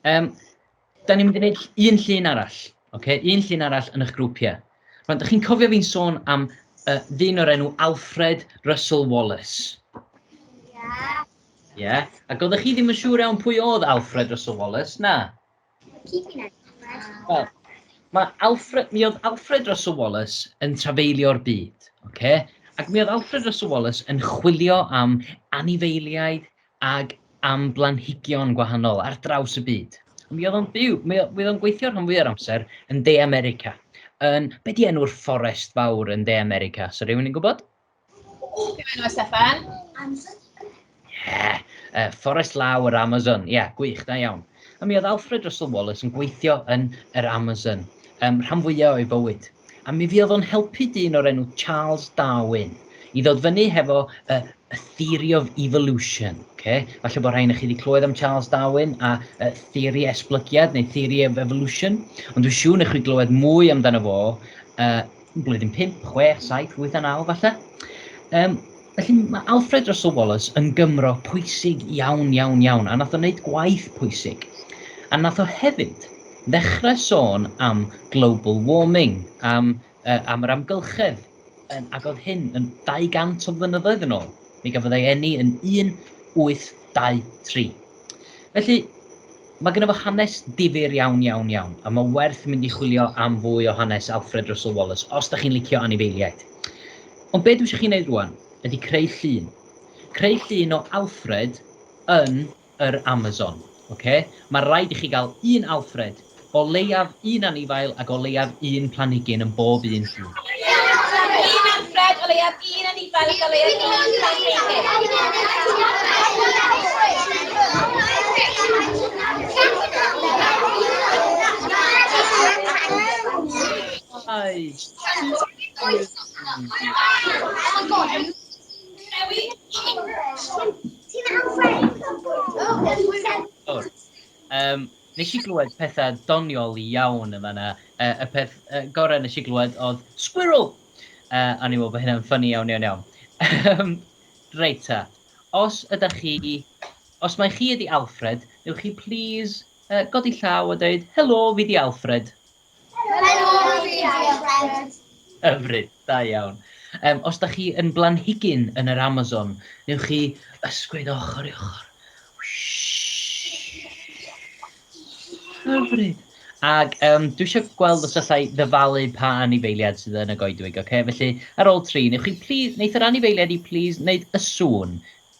Um, da ni'n mynd i wneud un llun arall, okay? un llun arall yn eich grwpiau. Rwy'n da chi'n cofio fi'n sôn am uh, ddyn o'r enw Alfred Russell Wallace? Ie. Yeah. Ie. Yeah. Ac oeddech chi ddim yn siŵr iawn pwy oedd Alfred Russell Wallace, na? Wel, mae Alfred, mi oedd Alfred Russell Wallace yn trafeilio'r byd, okay? ac mi oedd Alfred Russell Wallace yn chwilio am anifeiliaid ag am blanhigion gwahanol ar draws y byd. Mi oedd o'n byw, mi oedd o'n gweithio rhan fwyaf amser yn De America. Yn, be di enw'r fforest fawr yn De America? So rhywun yn gwybod? Diolch Steffan. Yeah. Uh, Forest Law yr Amazon. Ie, yeah, gwych, da iawn. A mi oedd Alfred Russel Wallace yn gweithio yn yr Amazon, um, rhan fwyaf o'i fywyd. A mi fi oedd o'n helpu dyn o'r enw Charles Darwin i ddod fyny hefo uh, a theory of evolution. Okay? Falle bod rhain i chi wedi clywed am Charles Darwin a uh, theori esblygiad neu theory of evolution, ond dwi'n siŵr nech chi glywed mwy amdano fo uh, blwyddyn 5, 6, 7, 8 a 9 falle. Um, felly mae Alfred Russell Wallace yn Gymro pwysig iawn, iawn, iawn, a nath o wneud gwaith pwysig. A nath o hefyd ddechrau sôn am global warming, am, uh, am yr amgylchedd, um, ac oedd hyn yn 200 o flynyddoedd yn ôl. Mi gafodd ei enni yn 1823. Felly, mae gyda fo hanes difyr iawn, iawn, iawn, a mae werth mynd i chwilio am fwy o hanes Alfred Russel Wallace os da chi'n licio anifeiliaid. Ond be dwi eisiau chi wneud rwan ydy creu llun. Creu llun o Alfred yn yr Amazon. Okay? Mae rhaid i chi gael un Alfred O leiaf un anifail ac o leiaf un planhigyn yn bob un llun. Llun Manfred, o leiaf un anifail ac o leiaf un planhigyn. Nes i glywed petha doniol iawn yn fanna. Y peth gorau nes i glywed oedd 'Squirrel'! A o'n i'n meddwl bod hynna'n ffyni iawn iawn iawn. Yym, reit ta. Os ydach chi... Os mai chi ydi Alfred, newch chi plîs godi llaw a deud 'Helo, fi 'di Alfred'? Hyfryd, da iawn. Um, os da chi yn blanhigyn yn yr Amazon, newch chi ysgwyd ochr i ochr. Hyfryd. Ac um, dwi eisiau gweld os allai ddyfalu pa anifeiliad sydd yn y goedwig, oce? Okay? Felly, ar ôl tri, newch chi please, wneud yr anifeiliad i please wneud y sŵn.